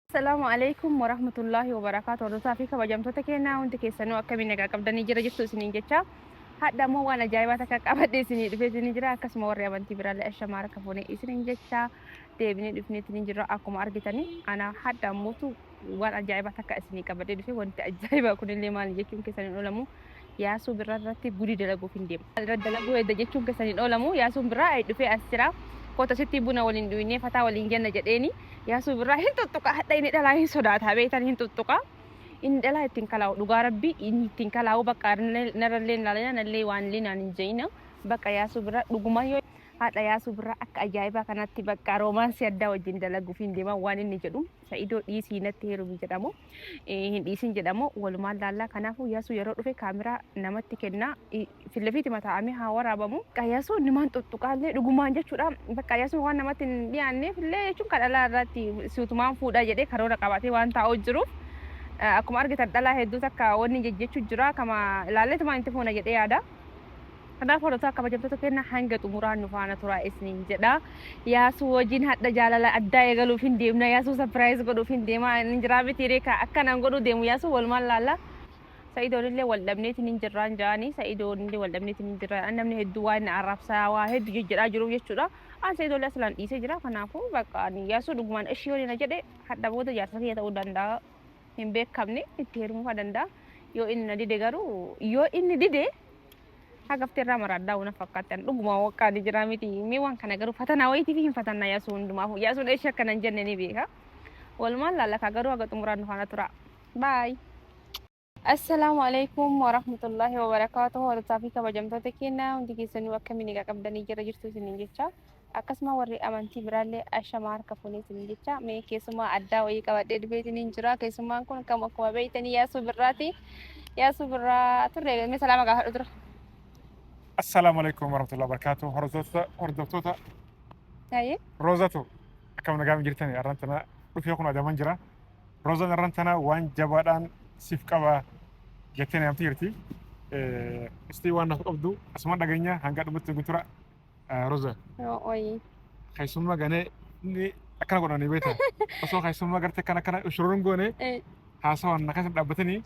Assalaamu alaikum warahmatullaahi wabarakaatu hordotaa fi kabajamtoota keenyaa hundi keessanuu akkamiin nagaa qabdanii jira jirtu isiniin jecha hadha immoo waan ajaa'ibaa takka qabadhe isinii dhufee isinii jira akkasuma warri amantii biraallee ashamaa harka fuune isiniin jecha deebinee dhufnee isiniin jira akkuma argitanii ana hadha mootu waan ajaa'ibaa takka isinii qabadhee dhufe wanti ajaa'ibaa kunillee maali jechuun keessan hin oolamu yaasuu birraa irratti gudii dalaguuf hin deema. Irra dalaguu edda jechuun keessan hin oolamu yaasuun birraa ay dhufee as jira koota sittii buna waliin dhuynee fataa waliin jenna jedheeni yaasuu birraa hin tuttuqa hadha inni dhalaa hin sodaata beektan hin tuttuqa inni dhalaa ittiin kalaa'u dhugaa rabbii inni ittiin kalaa'u bakka narrallee hin laalina nallee waan illee naan hin je'ina bakka yaasuu birraa dhugumaa yoo haadha yaasuu birraa akka ajaa'ibaa kanatti bakka roomaansii addaa wajjin dalaguuf hin deeman waan inni jedhu Sa'idoo dhiisii natti heerumi jedhamoo hin dhiisin jedhamoo walumaan laallaa kanaafuu yasuu yeroo dhufe kaamiraa namatti kennaa fillafiiti mataa'amee haa waraabamu. Bakka yasuu nimaan xuxxuqaallee dhugumaan jechuudha. Bakka yasuu waan namatti hin dhiyaanneef illee jechuun kan dhalaa irratti suutumaan fuudhaa jedhee karoora qabaatee waan taa'uu jiruuf akkuma argitan dhalaa hedduu takka wanni jejjechuu jira kama ilaalleetumaan itti fuuna jedhee yaada. Kanaaf horotaa kabajamtoota kenna hanga xumuraa nu faana turaa isniin jedha. Yaasuu wajjin hadha jaalala addaa eegaluuf hin deemna. Yaasuu sapiraayiz godhuuf hin deema. Hin jiraa miti reeka akkanaan godhuu deemu yaasuu walumaan laalla. Sa'idoon illee wal dhabneetiin hin jirraan ja'anii sa'idoon illee wal dhabneetiin hin jirraan namni hedduu waan na arrabsaa waa hedduu jejjedhaa jiruuf jechuudha. An sa'idoo illee asilaan dhiisee jira kanaafuu bakka ani yaasuu dhugumaan ishii yoon na jedhe hadha booda jaarsa kiyya ta'uu danda'a. Hin beekamne itti heerumuu danda'a. Yoo inni na dide garuu yoo inni dide Hagafti irraa maraaddaa una fakkaatti an dhuguma waqqaa ni jira miti mee waan kana garuu fatanaa wayiitiif hin fatanna yaasuu hundumaaf yaasuun eessi akka nan jenne ni beeka walumaan laalakaa garuu haga xumuraan nu faana tura baay. Assalaamu alaikum warahmatullahi wabarakaatuhu hordofaa fi kabajamtoota keenya hundi keessanuu akkamiin egaa qabdanii jira jirtu isiniin jecha Akkasuma warri amantii biraallee ashama harka fuunee isiniin jecha mee keessummaa addaa wayii qabadhee dhufee isiniin jira. Keessummaan kun kam akkuma beektanii yaasuu birraati. Yaasuu birraa turre mee salaama gaafadhu dura. Assalaamu alaikum warahmatullahi wabarakatuh. Hordoftoota hordoftoota Taayee. Roozatu akkam nagaa hin jirtani arran tana dhufee kun adaman jira. Roozan arran tana waan jabaadhaan siif qaba jettee namti jirti. Istii waan naaf qabdu asuma dhageenya hanga dhumutti guutura Roza. Ooyi. Keessummaa ganee inni akkana godhanii beektaa. Osoo keessummaa gartee akkana akkana shurruun goone haasawaan na keessa dhaabbatanii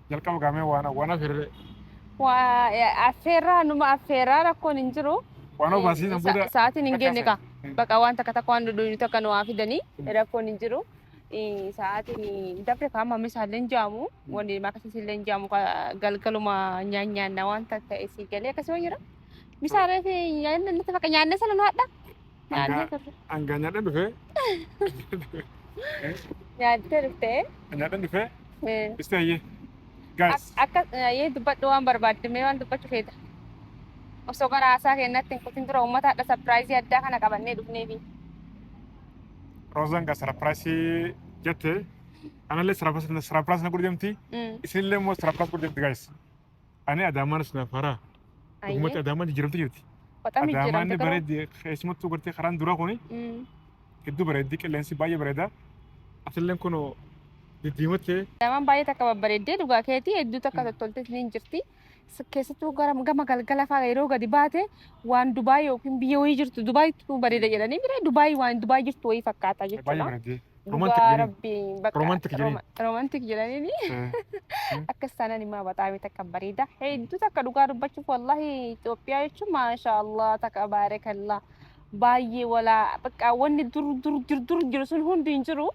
jalqaba gaamee waan waan affeerree. Waa affeerraa numa affeerraa rakkoon hin jiru. Waan obaasiin booda. Sa'aatiin hin geenye kaa. Baqa waan takka takka waan dudduubitu akka nu waa fidanii rakkoon hin jiru. Sa'aatiin dabre kaan mamni isaallee hin jaamu. Wanni maqaan isaallee hin jaamu galgaluma nyaan nyaanna waan ta'e si galee akkasuma jira. Bisaalee fi nyaanni nuti bakka nyaannee sana nu hadha. Nyaannee turre. Hangaa nyaadhan dhufee. Nyaattee dhuftee. Nyaadhan dhufee. Isti hayyee. Gaas. Akka yee dubbadhu waan barbaadde mee waan dubbachuu feeta. Osoo gara haasaa keenyatti hin kutin dura uummata hadha sapiraayizii addaa kana qabannee dhufneefi. Rozan ga sarapirasi jette analle sarapirasi na sarapirasi na godhu demti Mm. isinillee immoo sarapirasi godhu demti guys ani adaamaan isin afara Ayyee. dhugumatti adaamaan jijjiiramte jirti Baqaa miijjiramte adaamaan garuu. bareeddi keessumattuu gartee karaan duraa kuni Mm. hedduu bareeddi qilleensi baay'ee bareeda atilleen kun diddiimattee Adaamaan baay'ee takka babbareeddee dhugaa keetii hedduu takka tottoltees ni jirti. keessattuu gama galgala fa'aa yeroo gadi baate waan Dubaay yookiin biyya wayii jirtu Dubaayitu bareeda jedhanii bira Dubaay waan Dubaay jirtu wayii fakkaata Baay'ee jechuudha. bareedee. Romantic Dhugaa jedhanii. rabbiin bakka Romantic jedhanii. roma- romantic jedhanii akkas taanaan immoo baxaamii takka bareeda. Hedduu takka dhugaa dubbachuuf wallahi Itoophiyaa jechuun maasha Allah takka baarakallah baay'ee walaa bakka wanni dur dur dur dur jiru sun hundi hin jiru.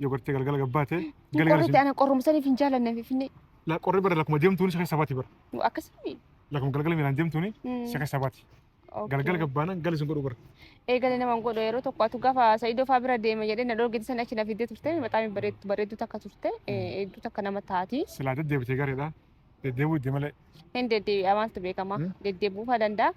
Yoo gartee galgala gabbaate Hin galgala qorrite isin ana qorrumsaniif hin jaalanne finfinnee. la qorri bara lakkuma deemtuun si keessa baati bara. Nu akkasii. Lakkuma galgala miilaan deemtuun Mm, si keessa baati. okay. Galgala gabbaanan gali isin godhu bara. Eegale nama hin godhu yeroo tokko atu gaafa Sa'idoo fa'aa bira deeme jedhee na dhorgite sana achi na fiddee turte maxaamii bareeddu bareeddu takka turte eh, eegduu takka nama taati. Silaa deddeebitee gareedha. Deddeebi'uu itti malee. Hin deddeebi'a maaltu beekama Hmm. deddeebi'uufaa danda'a.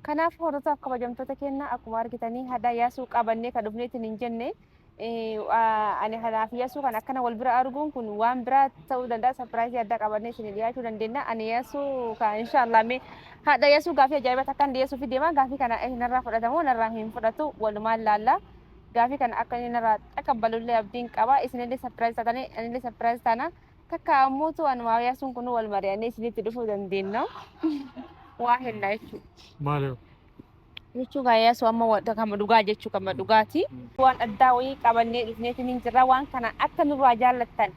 Kanaaf hordoftoota kabajamtoota keenya akkuma argitanii hadhaa yaasuu qabannee kan dhufneetiin hin jenne eh, waa- ani hanaaf yaasuu kan akkana wal bira arguun kun waan biraa ta'uu danda'a sapiraayisii addaa qabannee isin dhiyaachuu dandeenya ani yaasuu ka inshaallah mee hadha yaasuu gaafii ajaa'ibaa takkaan dhiyeessuuf deema gaafii kana eh, narraa fudhatamoo narraa hin fudhatu walumaan laallaa gaafii kana akka inni narraa xaqabbalullee abdiin qaba isinillee sapiraayis taatanii anillee sapiraayis taana Takka ammoo tu an maawiyaa sun kun wal mari'annee isinitti dhufuu dandeenna. Waa hennaa jechuudha. Maaliif? Jechuu gaayyaa sun amma wanta kama dhugaa jechuu kama dhugaati. Waan addaa wayii qabannee dhufneetiin hin jirra. Waan kana akka nurraa jaallattan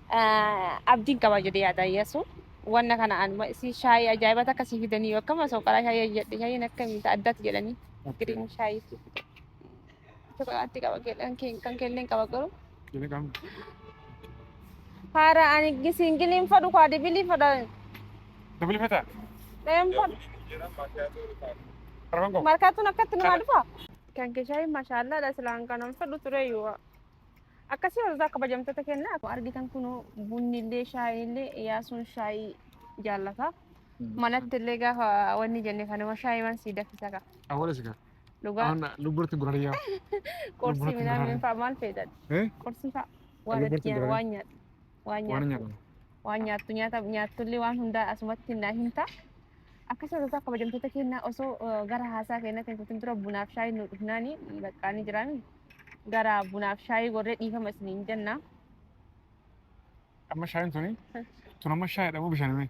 ah, abdiin qaba jedhee yaada Iyyasu. Wanna kana anuma isii shaayii ajaa'iba takka sii fidanii yoo akkama soqaraa shaayii jedhe shaayiin akkamitti addaatti jedhanii giriin shaayii. Ati qaba keelleen kan keelleen qaba garuu. Kini kam? Haara ani gisiingiliin fadhu kaa dibilii fadha. Dabali fata? Deem fadhu. Arban ko. Markaatuun akkatti namaa dhufa. Kan keeshaa mashaallaa dha silaan kanan fadhu ture yoo. Akkasii hooltaa kabajamtoota kennaa. Argitan kunuu bunni illee shaayiin illee yaasuun shaayii jaallata. Manatti illee gaafa wanni jenne kanuma shaayiiwwan sii daffisa kaa. Awwala sigaa. Dhugaa Awan lubburti burariya. qorsii lubburatti midhaan maraara. fa'aa maal fayyadadha? Eh? Qorsii fa'aa waan Lubburatti itti nyaatu, burariya. waan nyaatu, waan Waan nyaatu, nyaadhu. waan nyaattu nyaata nyaattullee waan hundaa asumatti naa himta. Akkasuma tasa kabajamtoota kennaa osoo eh, gara haasaa kennaa keessatti dura bunaaf shaayii nu dhufnaani baqqaanii jiraan gara bunaaf shaayii gorree dhiifama isiniin jenna. Amma shaayin tuni. Tun amma shaayidha moo bishaan himee?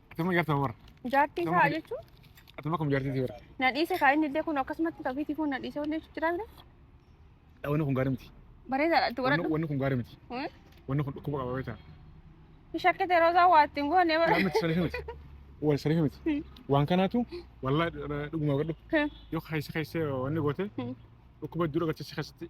Akkasuma garta warra. Jaartii isaa jechuun Akkasuma akkuma jaartii isaa warra. na dhiise kaa inni illee kun akkasumatti kafiitii kun na dhiise wanni jechuun jira bira. Wanni kun gaarii miti. Bareedaadha itti Wanni godhadhu. wanni kun gaarii miti. Hmm? Wanni kun dhukkuba qaba beektaa. Shakkite roozaa waa ittiin goone bara. Gaarii miti sariifi miti. Wal sariifi miti. Hmm. Waan kanaatu wallaa dhuguma godhu. Hmm. Yoo keessa keessa wanni goote Hmm. dhukkuba dura galchee si keessatti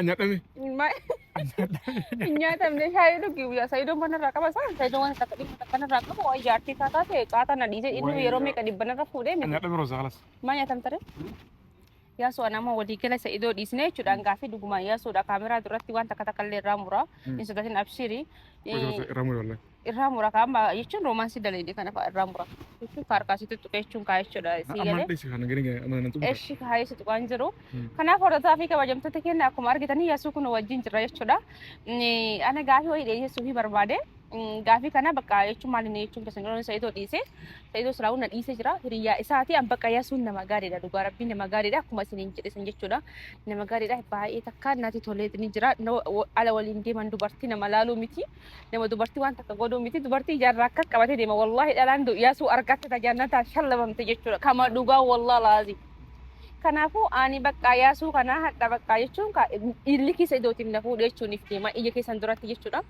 Anyadame. Nyaatamne shaayii dhugi guyyaa sayidoon mana irraa qaba isaa sayidoon waan takka dhimma takka irraa qabu waa ijaartii isaa taate caataa na dhiise inni yeroo meeqa dhibban irra fuudhee miti Anyadame roza kalas. maa nyaatamtare Yaasuu ana amma walii gala isa idoo dhiisnee jechuudhaan gaaffii dhugumaan yaasuudha kaameraa duratti waan takka takka illee irraa muraa hin sodaatin abshirii Irraa mure wallahi. irraa mura kaama jechuun roomaansii daleedhi kana fa'a irraa mura jechuun faarkaasiitti tuqee jechuun kaa jechuudha sii Amma galee dhiisi kana gani gani amma nan tuqu. eshi kaa jechuudha waan jiru kanaaf hordotaa fi kabajamtoota keenya akkuma argitanii yaasuu kun wajjin jirra jechuudha Inni- ana gaafii wayii dhiyeessuu fi barbaade Gaafii kana bakka jechuun maal inni jechuun keessan jiru sa'idoo dhiise. Sa'idoo siraawuu na dhiise jira. Hiriyyaa isaati an bakka yasuun nama gaariidha dhugaa rabbii nama gaariidha akkuma isin hin jedhisan jechuudha. Nama gaariidha baay'ee takka nati tolee ni jira. Ala waliin deeman dubartii nama laaluu miti. Nama dubartii waan takka godhuu miti. Dubartii ijaarraa akkas qabatee deema. Wallaahi dhalaan yasuu argatte tajaajilata shallabamte jechuudha. Kama dhugaa wallaa laazii. Kanaafuu ani bakka yaasuu kana hadha bakka jechuun illi keessa idootiin na fuudhee jechuun if deema ija keessan duratti jechuudha.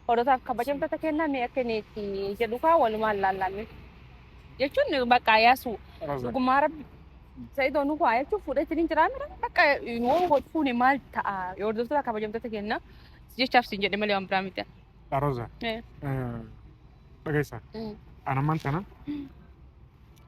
Hordootaaf kabajamtoota kennaa mee akka inni itti jedhu kaa walumaan laallaanne. Jechuun bakka yaasuu dhugumaa rabbi sa'idoo nu kuwaa jechuun fuudhee ittiin hin jiraamne bakka yoo wal fuune maal ta'a yoo hordoftoota kabajamtoota kennaa jechaaf siin jedhe malee waan biraa miti. Roza Eh. dhageessa Mm. anamman tana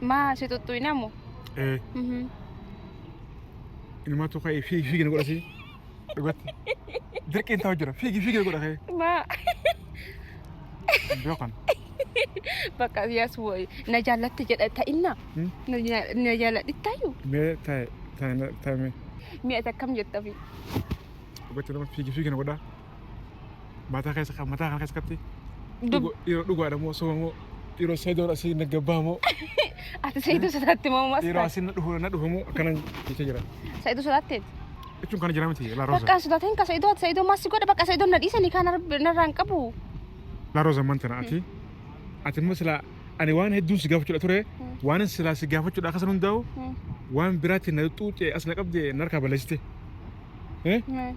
Maa si xuxxuine ammo? Ee. Mhm. Ilmaatu ka'ee fiigi fiigi na godha si. Dhugatti. Dirqiin ta'u jira. Fiigi fiigi na godha ka'ee. Maa Beekan. bakka yaas wayii na jaallatti jedha ta'inna. Hmm? Na ja- na jaalladhi ta'yu. Mee taa'e taa'e taa'e mee. Mi'a takkam jettafi. Dhugatti nama fiigi fiigi na godha. Mataa keessa mataa kana keessatti Dub- dhiiroo dhugaadha moo soba moo dhiiroo seedoon asii na gabbaa moo Ati sayituu sodaatti moo maas dhiiroo taate? asii na dhufu na dhufu moo akkanan jecha jira. Sayituu sodaatteeti. Jechuun kana jira miti laa rooza. Bakka sodaatiin ka sayituu ati sayituu maas si godha bakka sayituu na dhiisanii kaan narraan qabu. Laa rooza man tana ati ati immoo silaa ani waan hedduun si gaafachuudha ture waan silaa si gaafachuudha akkasan hundaa'u Hmm. waan biraatti na xuuxee as na qabdee narkaa balleessite. Eh? Hmm.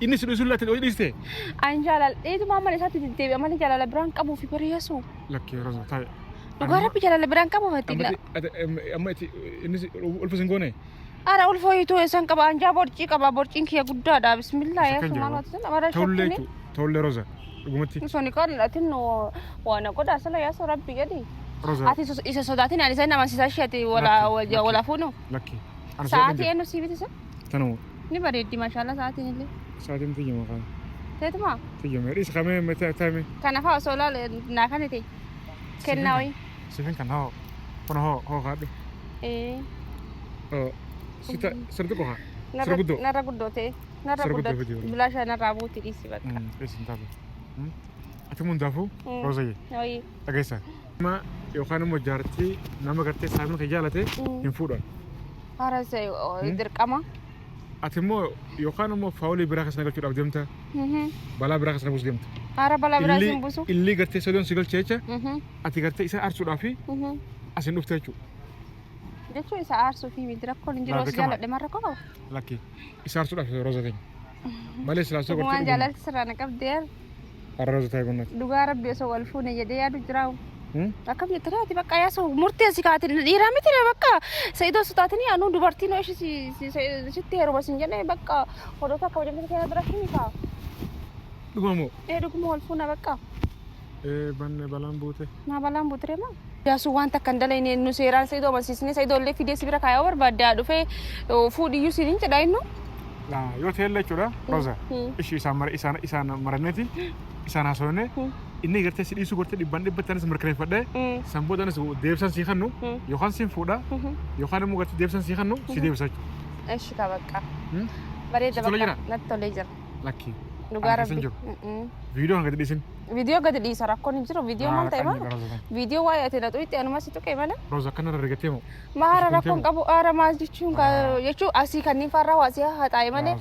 Inni si dhiisuun laatti hojii dhiiste. An jaaladheetuma amala isaatti deddeebi'a malee jaalala biraan qabuu fi bari yesu. Lakkee roza taa'e. Dhugaa rabbi jaalala biraan qabuu fatti. Amma itti inni ulfa sin goone. Ara ulfa hiituu eessan qaba anjaa borcii qaba borciin kiyya guddaadha bismillah yesu maal wati sun amara Tollee shakkini. jechuudha. Tollee roza. Dhugumatti Musoni qal'adha tinnu waan godha sala yesu rabbi jedhi. roza. Ati isa sodaatin ani isa hin amansiisa ishee ati wala Lakki, wala fuunu. Lakkee. Sa'aatii eenyu siibiti sun? Tanuma. Ni bareeddi mashallah sa'aatiin illee. Sa'aatiin tiyyuma kana. Teetuma? Tiyyuma. Dhiis kamee mete atame. Kana fa'a osoo laal naa kan ta'e. Kennaa wayii. Sifin kan hoo. Kun hoo hoo kaadhu. Ee. Oo. Sita sirbi qofa. Sirbi guddoo. Narra guddoo ta'e. Narra Sirbi guddoo guddoo. fidii wayii. Bilaasha narraa buuti dhiisi bakka. Dhiis hin taatu. Ati mun daafuu. Roozayye. Wayii. dhageessan. Nama yookaan immoo jaartii nama gartee saamii kee jaalate hin fuudhan. Haras dirqama. Ati immoo yookaan immoo faawulii biraa keessa na galchuudhaaf deemta. Balaa biraa keessa na buusu deemta. Haara balaa biraa Illi- isin buusu. Illi gartee sodoon si galcha jecha ati gartee isa aarsuudhaa fi asin dhufte jechuudha. Jechuun isa aarsuu fi miti rakkoon hin jiru Laata osoo kama? jaalladhe marra qaba. Lakkii isa aarsuudhaaf roza keenya. Malee silaasoo Waan gartee. jaalalti sirraa na qabdee. Arroo zutaa gunnati. Dhugaa rabbi osoo wal fuune jedhee yaadu jiraawu. Akkam jette reeti bakka yaasu murteessi kaati dhiiraa miti ree bakka sa'idoo sutaatini anuu dubartii noo ishi sitti heeruma sin jedhe bakka hodoota akka wajjin keessa bira himi kaa. Dhumamoo. Ee dhuguma wal fuuna bakka Ee banne balaan buute. naa balaan buutiree maa. Iyyaasuun waan takka hin dalagne nu seeraan Sa'idoo amansiisnee Sa'idoo illee fidee si bira kaayoo barbaadde haa dhufee fuudhiyyuu siin hin jedha innu. Yoo ta'ellee jechuudha Roza ishii isaan mara isaan isaan maranneti isaan haasofne inni gartee si dhiisuu gartee dhibban dhibbatti anis mirkaneeffadhe san booda anis deebisan sii kannu yookaan siin fuudha yookaan immoo gartee deebisan sii kannu si deebisa jechuudha. Eshi ka bakka. Bareeda Tola bakka jira? natti tolee jira. Lakkii. Dhugaa Ani keessa hin rabbi. jiru. Viidiyoo hanga dhiisin. Viidiyoo gadi dhiisa rakkoon hin jiru. Viidiyoo maal ta'e maal? Viidiyoo waa'ee ati naxuu itti anuma si tuqee malee. Roza akkana irra rigatee moo? Maara rakkoon qabu aara maal jechuun jechuu asii kanneen farraa waa si haxaa'e malee.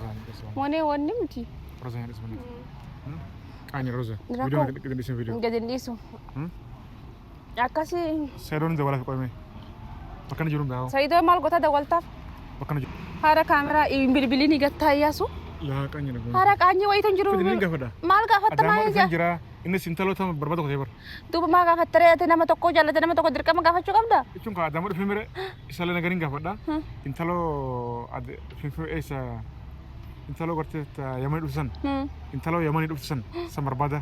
Monee wanni miti. Roza hin dhisbana. Qaani Roza. Viidiyoo gadi dhiisin viidiyoo. Gadi hin dhiisu. Akkasi Seedoon hin dawwalaaf qoyme. Bakka inni jiru hin gahaa. Saidoo maal goota dawwaltaaf? Bakka inni jiru. Haara kaameraa hin bilbiliin gattaa iyyaasu. Yaa qaanya na goone. Haara qaanyii wayiitu hin jiru. Fidi ni gaafadha. Maal gaafatta Adaamaa maal dhufee ija? jira. Innis intala tama barbaada kotee bara. Duuba maa gaafatta ree ati nama tokko jaallate nama tokko dirqama gaafachuu qabda? Jechuun kaa adaamaa dhufee mire isalee nagariin gaafadha. Hmm. Intaloo ade- finfinnee eessa intaloo gartee ta- yamanii dhuftu san Hmm. intaloo yamanii dhuftu san san barbaada.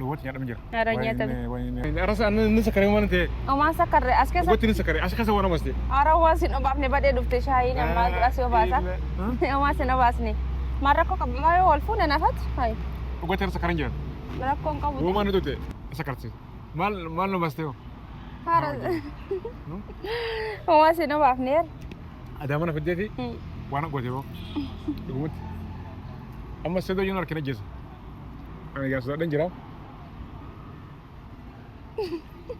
Lubatti nyaadhama jira. Nyaara nyaatame. Arasa anna inni sakaree waan ta'e. Omaa sakarre as keessa. Lubatti inni sakaree as keessa waan amaste. Ara waa sin obaafne badhee dhufte shaayii namaa dura si obaasa. Omaa sin obaasne. Maa rakkoo qabu maa yoo wal fuune nafat. Hayi. Lubatti arasa karan jira. Rakkoo hin qabu. Roomaan nuti ta'e sakarti. Maal maal nu baste hoo? Hara. Omaa sin obaafne. Adaamaa na fiddee fi waan goote hoo. Dhugumatti. Amma sedoo yoo na harkina jeessa. Ani gaa sodaadhan jira.